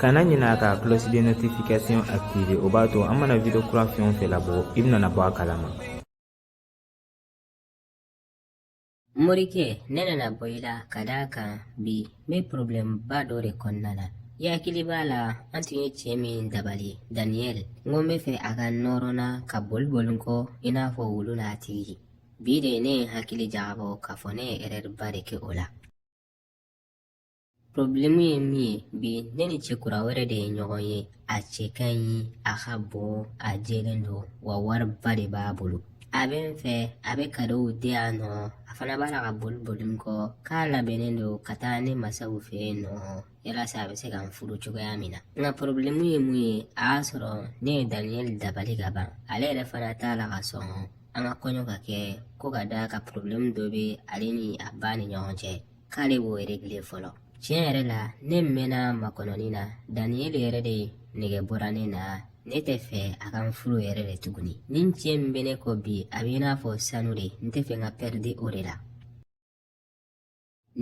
kana ɲinɛ ka cloche de notification activer o b'a to an mana video kura fɛn o fɛn labɔ i bɛna bɔ a kalama morikɛ ne nana bɔ i la ka d'a kan bi n bɛ porobilɛmba dɔ de kɔnɔna na i hakili b'a la an tun ye cɛ min dabali daniyɛli n ko n bɛ fɛ a ka nɔrɔ n na ka boli boli n kɔ i n'a fɔ wulu n'a tigi bi de ne ye n hakili jagabɔ k'a fɔ ne ye erɛriba de kɛ o la Problemu ye mun ye bi ne ni cɛkura wɛrɛ de ye ɲɔgɔn ye a cɛ ka ɲi a ka bon a jɛlen don wa wariba de b'a bolo a bɛ n fɛ a bɛ kadow di yan nɔ a fana b'a la ka boli boli n kɔ k'a labɛnnen don ka taa ne masaw fɛ yen nɔ yalasa a bɛ se ka n furu cogoya min na nka porobilemu ye mun ye a y'a sɔrɔ ne ye daniyɛli dabali ka ban ale yɛrɛ fana t'a la ka sɔn an ka kɔɲɔ ka kɛ ko ka d'a kan porobilemu dɔ bɛ ale ni a ba ni ɲɔgɔn cɛ k'ale b'o regile fɔlɔ tiɲɛ yɛrɛ la ne mɛnna makɔnɔni na daniyeli yɛrɛ de nɛgɛ bɔra ne na ne tɛ fɛ a ka n furu yɛrɛ de tuguni nin cɛ in min bɛ ne kɔ bi a bɛ i n'a fɔ sanu de n tɛ fɛ n k'a pɛridi o de la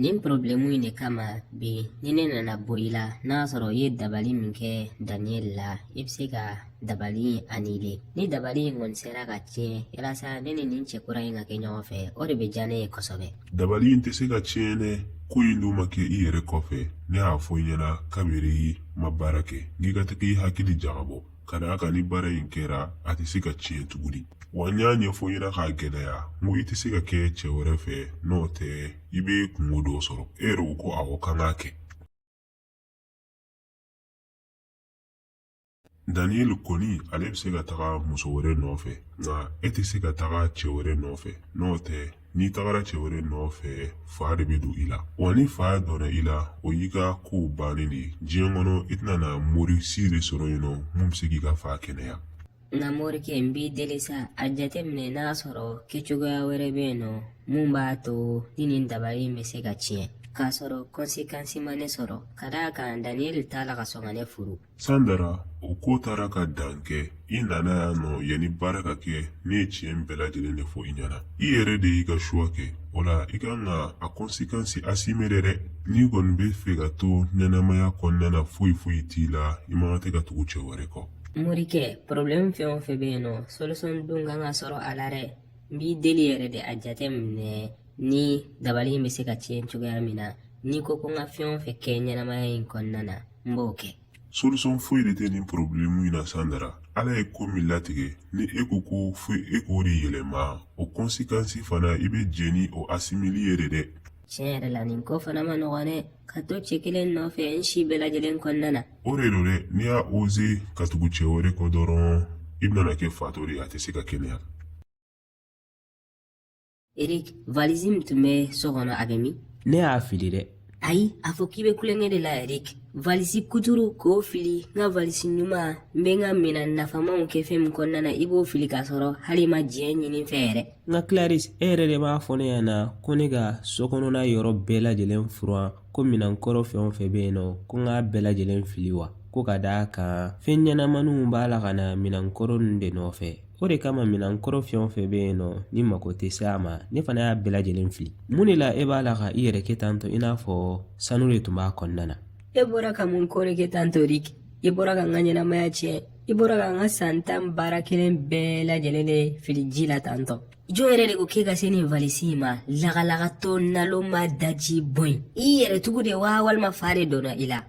nin porobilɛmu in de kama bi ni ne nana bɔ i la n'a sɔrɔ i ye dabali min kɛ daniyeli la i bɛ se ka dabali anile ni dabali in kɔni sera ka tiɲɛ yalasa ne ni nin cɛ kura in ka kɛ ɲɔgɔn fɛ o de bɛ diya ne ye kosɛbɛ dabali in tɛ se ka tiɲɛ dɛ ko in dun ma kɛ i yɛrɛ kɔfɛ ne y'a fɔ i ɲɛna kabiri i ma baara kɛ k'i ka tɛgɛ i hakili jagabɔ ka d'a kan ni baara in kɛra a tɛ se ka tiɲɛ tuguni wa n y'a ɲɛfɔ i ɲɛna k'a gɛlɛya n ko i tɛ se ka kɛ cɛ wɛrɛ fɛ n'o tɛ i bɛ kunko dɔ sɔrɔ e yɛrɛ ko ko awɔ k'an k'a kɛ daniyeli kɔni ale bɛ se ka taga muso wɛrɛ nɔfɛ nka e tɛ se ka taga cɛ wɛrɛ nɔfɛ n'o tɛ n'i tagara cɛ wɛrɛ nɔfɛ fa de bɛ don i la wa ni fa donna i la o y'i ka kow bannen de ye diɲɛ kɔnɔ i tɛna na mori si de sɔrɔ yen nɔ min bɛ se k'i ka fa kɛnɛya nka morikɛ n b'i deli sa a jateminɛ n'a sɔrɔ kɛcogoya wɛrɛ bɛ yen nɔ min b'a to ni nin dabali in bɛ se ka tiɲɛ k'a sɔrɔ kɔnsekansi ma ne sɔrɔ ka d'a kan daniyɛli t'a la ka sɔn ka ne furu sandara o ko taara ka dan kɛ i nana yan nɔ yanni baara ka kɛ ne ye tiɲɛ bɛɛ lajɛlen de fɔ i ɲɛna i yɛrɛ de y'i ka suwa kɛ o la i kan ka a kɔnsekansi asime de dɛ n'i kɔni bɛ fɛ ka to ɲɛnamaya kɔnɔna na foyi foyi t'i la i man kan tɛ ka tugu cɛ wɛrɛ kɔ morikɛ porobilɛmu fɛn o fɛn bɛ yen nɔ solisɔn dɔ kan ka sɔrɔ a la dɛ n b'i deli yɛrɛ de a jate minɛ ni dabali in bɛ se ka tiɲɛ cogoya min na n'i ko ko n ka fɛn o fɛn kɛ ɲɛnamaya in kɔnɔna na n b'o kɛ solution foyi de tɛ nin porobilemu in na sandara ala ye ko min latigɛ ni e ko ko fo e k'o de yɛlɛma o konsikansi fana i bɛ jɛn ni o asimeli ye de dɛ Tiɲɛ yɛrɛ la nin ko fana man nɔgɔn dɛ ka to cɛ kelen nɔfɛ n si bɛɛ lajɛlen kɔnɔna na o de don dɛ n'i y'a oze ka tugu cɛ wɛrɛ kɔ dɔrɔn i bɛna kɛ fatɔ de ye a tɛ se ka kɛnɛya erik valizi min tun bɛ so kɔnɔ a bɛ min ne y'a fili dɛ ayi a fɔ k'i bɛ tulonkɛ de la erik valisi kuturu k'o fili n ka valisi ɲuman n bɛ n ka minɛn nafamanw kɛ fɛn min kɔnɔna na i b'o fili k'a sɔrɔ hali i ma diɲɛ ɲini n fɛ yɛrɛ nka Clarisse e yɛrɛ de m'a fɔ ne ɲɛna ko ne ka so kɔnɔna yɔrɔ bɛɛ lajɛlen furan ko minɛn kɔrɔ fɛn o fɛn bɛ yen nɔ ko n k'a bɛɛ lajɛlen fili wa ko ka d'a kan fɛn ɲɛnamaninw b'a la ka na minɛn kɔrɔ ninnu de nɔfɛ o de kama minɛn kɔrɔ fɛn o fɛn bɛ yen nɔ n'i mako tɛ se a ma ne fana y'a bɛɛ lajɛlen fili mun de la e b'a la ka i yɛrɛ kɛ tantɔ i n'a fɔ sanu de tun b'a kɔnɔna na e bɔra ka mun kɔrɔ kɛ tantɔ de i bɔra ka n ka ɲɛnamaya tiɲɛ i bɔra ka n ka san tan baara kelen bɛɛ lajɛlen de fili ji la tantɔ jɔn yɛrɛ de ko k'e ka se nin valisi in ma lagalagatɔ nalonma dajibɔn in i yɛrɛ tugu de wa walima fa de donna i la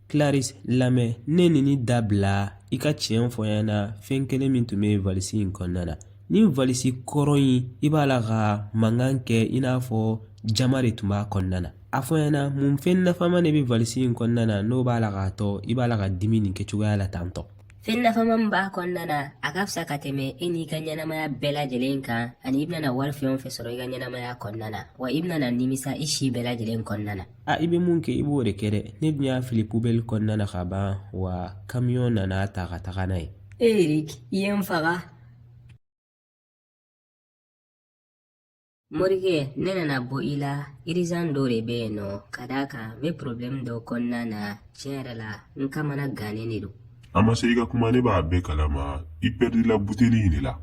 claris lamɛn nenini dabila i ka tiɲɛ fɔ n ɲɛna fɛn kelen min tun bɛ valisi in kɔnɔna na nin valisi kɔrɔ in i b'a la ka mankan kɛ i n'a fɔ jaman de tun b'a kɔnɔna na a fɔ n ɲɛna mun fɛn nafama de bɛ valisi in kɔnɔna na n'o b'a la k'a to i b'a la ka dimi nin kɛ cogoya la tan tɔ fɛn nafama min b'a kɔnɔna na a ka fisa ka tɛmɛ e n'i ka ɲɛnamaya bɛɛ lajɛlen kan ani i bɛna wari fɛn o fɛn sɔrɔ i ka ɲɛnamaya kɔnɔna na wa i bɛna nimisa i si bɛɛ lajɛlen kɔnɔna na a i bɛ mun kɛ i b'o de kɛ dɛ ne dun y'a fili pubɛli kɔnɔna na ka ban wa kamiyɔn nana a ta ka taga n'a ye erik i ye n faga Morikɛ ne nana bɔ i la irizan dɔ de bɛ yen nɔ ka d'a kan n bɛ porobilɛmu dɔ kɔnɔna na tiɲɛ yɛrɛ la n kamanagannen de don. a ma se i ka kuma ne b'a bɛɛ kalama i pɛridila buteli in de la.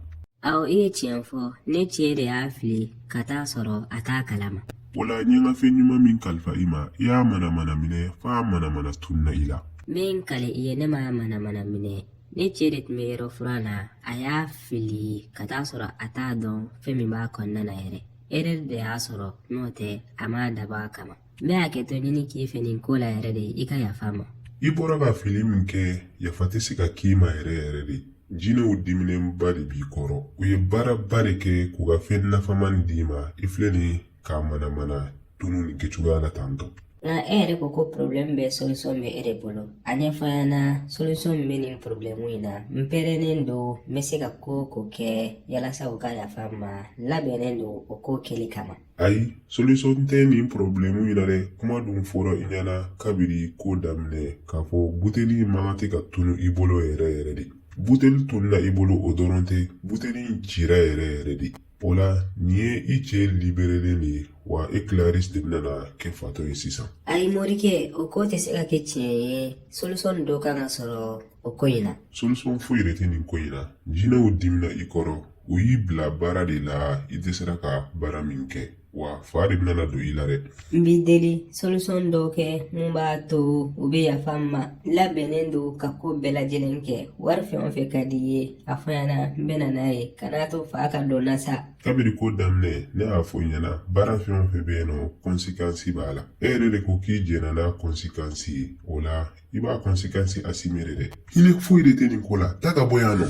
awɔ i ye tiɲɛ fɔ ne cɛ de y'a fili ka t'a sɔrɔ a t'a kalama. wala n ye n ka fɛn ɲuman min kalifa i ma i y'a manamana minɛ f'a manamana tununa i la. n bɛ n kale i ye ne m'a manamana minɛ Ne cɛ de tun bɛ yɔrɔ furan na a y'a fili ka t'a sɔrɔ a t'a dɔn fɛn min b'a kɔnɔna na yɛrɛ erɛr de y'a sɔrɔ n'o tɛ a m'a dabɔ a kama n bɛ hakɛto ɲini k'i fɛ nin ko la yɛrɛ de i ka yafa n ma i bɔra ka fili min kɛ yafa tɛ se ka k'i ma yɛrɛ yɛrɛ de jinɛw diminenba de b'i kɔrɔ u ye baaraba de kɛ k'u ka fɛn nafaman d'i ma i filɛ nin k'a manamana tunu nin kɛcogoya la tan tɔ nka e yɛrɛ ko ko problème bɛɛ solution bɛ e de bolo a ɲɛfɔ n ɲɛna solution min bɛ nin problème in na n pɛrɛnnen don n bɛ se ka ko o ko kɛ yalasa u ka yafa n ma n labɛnnen don o ko kɛli kama ayi solution tɛ nin problème in na dɛ kuma dun fɔra i ɲɛna kabini ko daminɛ k'a fɔ buteli man kan tɛ ka tunu i bolo yɛrɛ yɛrɛ de buteli tununa i bolo o dɔrɔn tɛ buteli in cira yɛrɛ yɛrɛ de O la nin ye i cɛ liberelen de ye wa e kilaris de bɛna na kɛ fatɔ ye sisan ayi morikɛ o ko tɛ se ka kɛ tiɲɛ ye solisɔn dɔ kan ka sɔrɔ o ko in na solisɔn foyi de tɛ nin ko in na jinɛw dimina i kɔrɔ u y'i bila baara de la i dɛsɛra ka baara min kɛ wa fa de bɛna na don i la dɛ n b'i deli solisɔn dɔ kɛ mun b'a to u bɛ yafa n ma n labɛnnen don ka ko bɛɛ lajɛlen kɛ wari fɛn o fɛn ka di i ye a fɔ n ɲɛna n bɛna n'a ye kan'a to fa ka don n na sa kabiri ko daminɛ ne y'a fɔ i ɲɛna baara fɛn o fɛn bɛ yen nɔ kɔnsikansi b'a la e yɛrɛ de ko k'i jɛnna n'a kɔnsikansi ye o la i b'a kɔnsikansi asime de dɛ hinɛ foyi de tɛ nin ko la taa ka bɔ yan nɔ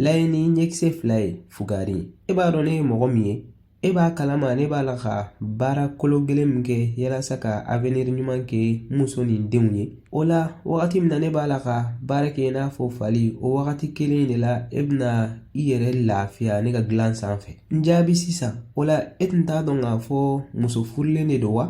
Lajɛ ni ɲɛkisɛ fila ye fugari e b'a dɔn ne ye mɔgɔ min ye e b'a kalama ne b'a la ka baara kolo gɛlɛn min kɛ yalasa ka aveniri ɲuman kɛ n muso ni denw ye o la wagati min na ne b'a la ka baara kɛ i n'a fɔ fali o wagati kelen de la e bɛna i yɛrɛ lafiya ne ka dilan sanfɛ n jaabi sisan o la e tun t'a dɔn k'a fɔ muso furulen de don wa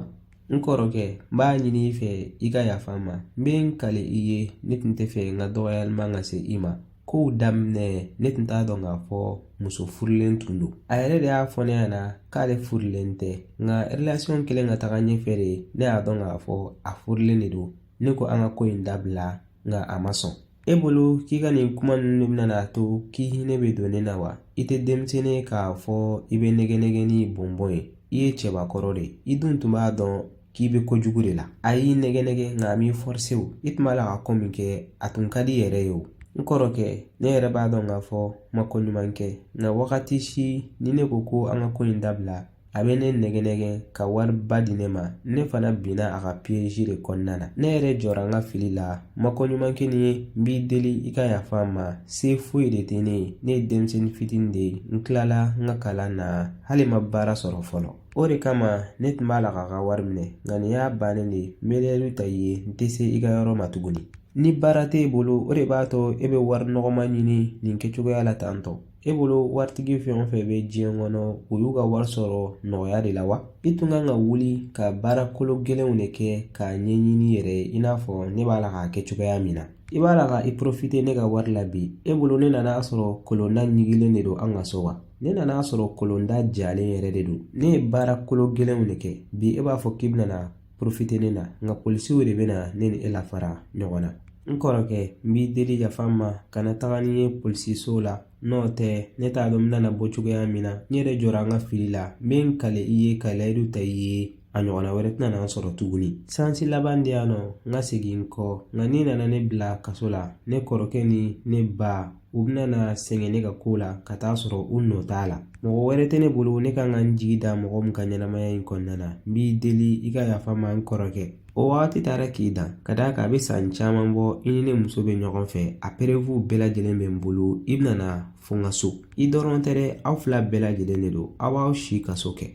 N kɔrɔkɛ, n b'a ɲini i fɛ i ka yafa n ma. N bɛ n kali i ye, ne tun tɛ fɛ n ka dɔgɔyalima ka se i ma. Kow daminɛ, ne tun t'a dɔn k'a fɔ muso furulen tun don. A yɛrɛ de y'a fɔ ne ɲɛna k'ale furulen tɛ. Nka relation kɛlen ka taga ɲɛfɛ de, ne y'a dɔn k'a fɔ a furulen de don. Ne ko an ka ko in dabila, nka a ma sɔn. e bolo k'i ka nin kuma ninnu de bɛna a to k'i hinɛ bɛ don ne na wa i tɛ denmisɛnnin ye k'a fɔ i bɛ nɛgɛ nɛgɛ ni bɔnbɔn ye i ye cɛbakɔrɔ de ye i dun tun b'a dɔn k'i bɛ kojugu de la a y'i nɛgɛ nɛgɛ nka a m'i fɔrise i tun b'a la ka ko min kɛ a tun ka di i yɛrɛ ye o n kɔrɔkɛ ne yɛrɛ b'a dɔn k'a fɔ n ma ko ɲuman kɛ nka wagati si ni ne ko ko an ka ko in dabila a bɛ ne nɛgɛ nɛgɛ ka wari ba di ne ma ne fana binna a ka piyɛzi de kɔnɔna na ne yɛrɛ jɔra n ka fili la n ma ko ɲuman kɛ nin ye n b'i deli i ka yafa n ma se foyi de tɛ ne ye ne ye denmisɛnnin fitinin de ye n kilala n ka kalan na hali n ma baara sɔrɔ fɔlɔ o de kama ne tun b'a la k'a ka wari minɛ nka nin y'a bannen de ye n bɛ layidu ta i ye n tɛ se i ka yɔrɔ ma tuguni ni baara t'e bolo o de b'a to e bɛ wari nɔgɔma ɲini nin kɛcogoya la tantɔ e bolo waritigi fɛn o fɛn bɛ diɲɛ kɔnɔ u y'u ka wari sɔrɔ nɔgɔya de la wa i tun kan ka wuli ka baara kolo gɛlɛnw de kɛ k'a ɲɛɲini i yɛrɛ ye i n'a fɔ ne b'a la k'a kɛ cogoya min na i b'a la ka i porofite ne ka wari la bi e bolo ne nan'a sɔrɔ kolonda ɲigilen de don an ka so wa ne nan'a sɔrɔ kolonda jalen yɛrɛ de don ne ye baara kolo gɛlɛnw de kɛ bi e b'a fɔ k'i bɛna porofite ne la nka polisiw de bɛna ne ni e lafara ɲɔgɔn na n kɔrɔkɛ n b'i deli yafa n ma kana taga ni n ye polisiso la n'o tɛ ne t'a dɔn n bɛna bɔ cogoya min na n yɛrɛ jɔra n ka fili la n bɛ n kali i ye ka layidu ta i ye a ɲɔgɔnna wɛrɛ tɛna n'an sɔrɔ tuguni sansi laban di yan nɔ n ka segin n kɔ nka n'i nana ne bila kaso la ne kɔrɔkɛ ni ne ba u bɛna na sɛgɛn ne ka ko la ka t'a sɔrɔ u nɔ t'a la mɔgɔ wɛrɛ tɛ ne bolo ne kan ka n jigi da mɔgɔ min kan ɲɛnamaya in kɔnɔna na n b'i deli i ka yafa n ma n kɔrɔkɛ o wagati taara k'i dan ka d'a kan a bɛ san caman bɔ i ni ne muso bɛ ɲɔgɔn fɛ a perefuw bɛɛ lajɛlen bɛ n bolo i bɛna fo kaso i dɔrɔn tɛ dɛ aw fila bɛɛ lajɛlen de don aw b'aw si kaso kɛ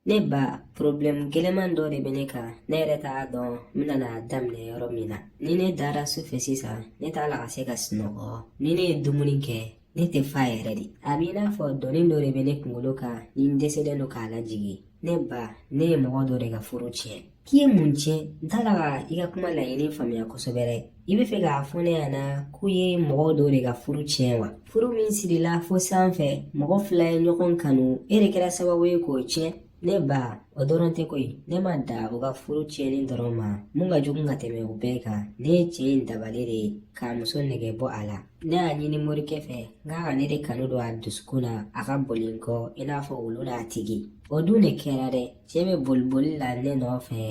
Ne ba problem gɛlɛman dɔ de bɛ ne kan ne yɛrɛ t'a dɔn n bɛna n'a daminɛ yɔrɔ min na ni ne dara su fɛ sisan ne t'a la ka se ka sunɔgɔ ni ne ye dumuni kɛ ne tɛ fa yɛrɛ dɛ a b'i n'a fɔ doni dɔ de bɛ ne kunkolo kan ni n dɛsɛlen don k'a lajigin ne ba ne ye mɔgɔ dɔ de ka furu tiɲɛ k'i ye mun tiɲɛ n t'a la ka i ka kuma laɲini faamuya kosɛbɛ dɛ i bɛ fɛ k'a fɔ ne ɲɛna k'i ye mɔgɔ dɔ de ka furu tiɲɛ wa furu min sirila fo sanfɛ mɔgɔ fila ye ɲɔgɔn kanu e de kɛra sababu ye k'o tiɲɛ ne ba o dɔrɔn tɛ koyi ne ma dan u ka furu tiɲɛni dɔrɔn ma min ka jugu ka tɛmɛ o bɛɛ kan ne ye cɛ in dabali de k'a muso nege bɔ a la ne y'a ɲini morikɛ fɛ n k'a ka ne de kanu don a dusukun na a ka boli n kɔ i n'a fɔ wulu n'a tigi o dun de kɛra dɛ cɛ bɛ boli boli la ne nɔfɛ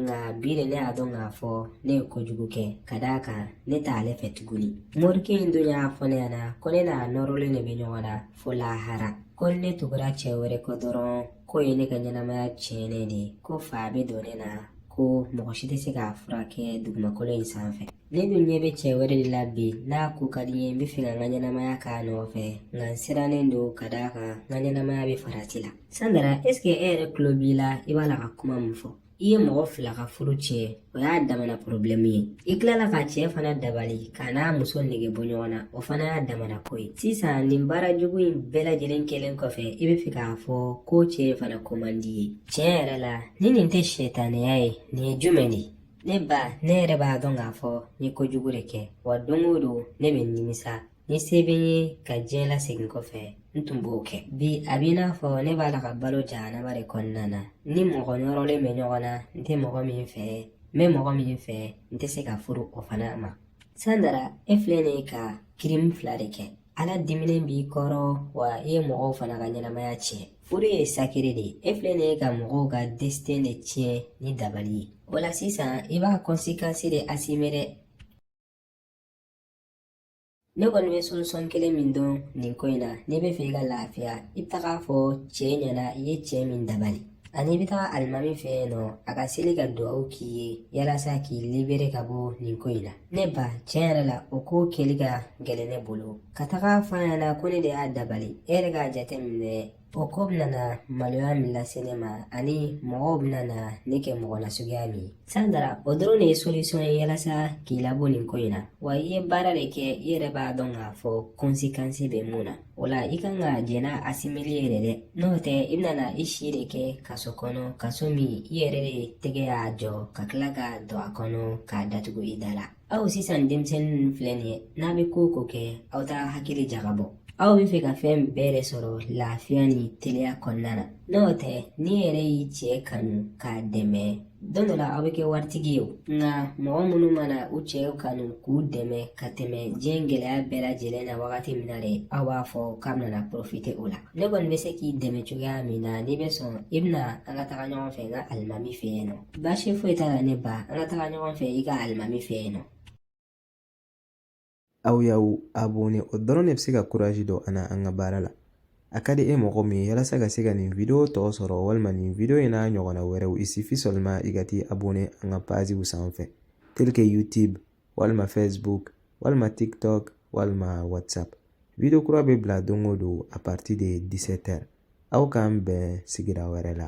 nka bi de ne y'a dɔn k'a fɔ ne ye kojugu kɛ ka d'a kan ne t'ale fɛ tuguni morikɛ in dun y'a fɔ ne ɲɛna ko ne n'a nɔrɔlen de bɛ ɲɔgɔn na fo lahara ko ni ne tugura cɛ wɛrɛ kɔ dɔrɔn k'o ye ne ka ɲɛnamaya tiɲɛnen de ye ko fa bɛ don ne na ko mɔgɔ si tɛ se k'a furakɛ dugumakolo in sanfɛ ne dun ɲɛ bɛ cɛ wɛrɛ de la bi n'a ko ka di n ye n bɛ fɛ ka n ka ɲɛnamaya k'a nɔfɛ nka n sirannen don ka d'a kan n ka ɲɛnamaya bɛ farati la Sandara ɛseke e yɛrɛ tulo b'i la i b'a la ka kuma min fɔ i ye mɔgɔ fila ka furu tiɲɛ o y'a damana porobilɛmu ye i tilala ka cɛ fana dabali k'a n'a muso nege bɔ ɲɔgɔn na o fana y'a damana ko ye sisan nin baara jugu in bɛɛ lajɛlen kɛlen kɔfɛ i bɛ fɛ k'a fɔ ko cɛ in fana ko man di i ye tiɲɛ yɛrɛ la ni nin tɛ setanɛya ye nin ye jumɛn de ne ba ne yɛrɛ b'a dɔn k'a fɔ n ye kojugu de kɛ wa don o don ne bɛ nimisa ni se bɛ n ye ka diɲɛ lasegin kɔfɛ n tun b'o kɛ bi a b'i n'a fɔ ne b'a la ka balo jahanama de kɔnɔna na n ni mɔgɔ nɔrɔlen bɛ ɲɔgɔn na n tɛ mɔgɔ min fɛ n bɛ mɔgɔ min fɛ n tɛ se ka furu o fana ma sandara e filɛ nin ye ka kirimu fila de kɛ ala diminen b'i kɔrɔ wa i ye mɔgɔw fana ka ɲɛnamaya tiɲɛ furu ye sakere de ye e filɛ nin ye ka mɔgɔw ka destin de tiɲɛ ni dabali ye o la sisan i b'a kɔnsekansi de asime dɛ ne kɔni bɛ solisɔn kelen min dɔn nin ko in na n'i bɛ fɛ i ka lafiya i bɛ taga a fɔ cɛ ɲɛna i ye cɛ min dabali ani i bɛ taga alimami fɛ yen nɔ a ka seli ka dugawu k'i ye yalasa k'i libere ka bɔ nin ko in na ne ba tiɲɛ yɛrɛ la o ko kɛli ka gɛlɛn ne bolo ka taga f'a ɲɛna ko ne de y'a dabali e yɛrɛ k'a jateminɛ O ko bɛna na maloya min lase ne ma ani mɔgɔw bɛna na ne kɛ mɔgɔ nasuguya min ye sandara o dɔrɔn de ye solisɔn ye yalasa k'i labɔ nin ko in na wa i ye baara de kɛ i yɛrɛ b'a dɔn k'a fɔ kɔnsikansi bɛ mun na o la i kan ka jɛn n'a asimeli ye de dɛ n'o tɛ i bɛna na i si de kɛ kaso kɔnɔ kaso min i yɛrɛ de tɛgɛ y'a jɔ ka tila ka don a kɔnɔ k'a datugu i da la aw sisan denmisɛnnin ninnu filɛ nin ye n'a bɛ ko ko kɛ aw t'a hakili jagabɔ aw bɛ fɛ ka fɛn bɛɛ de sɔrɔ lafiya ni teliya kɔnɔna na n'o tɛ n'i yɛrɛ y'i cɛ kanu k'a dɛmɛ don dɔ la aw bɛ kɛ waritigi ye o nka mɔgɔ minnu mana u cɛw kanu k'u dɛmɛ ka tɛmɛ diɲɛ gɛlɛya bɛɛ lajɛlen na wagati min na de aw b'a fɔ k'a bɛna porofite o la ne kɔni bɛ se k'i dɛmɛ cogoya min na n'i bɛ sɔn i bɛ na an ka taga ɲɔgɔn fɛ n ka alimami fɛ yen nɔ baasi foyi t'a la ne ba an ka taga ɲɔgɔn fɛ i ka alimami fɛ yen nɔ aw y'aw abonné o dɔrɔn de bɛ se ka kurazi don an na an ka baara la a ka di e mɔgɔ min ye yalasa ka se ka nin video tɔ sɔrɔ walima nin video in n'a ɲɔgɔnna wɛrɛw il suffit seulement i ka t'i abonné an ka paziw sanfɛ tel que youtube walima facebook walima tiktok walima whatsapp video kura bɛ bila don o don a partir de 17 heures aw k'an bɛn sigira wɛrɛ la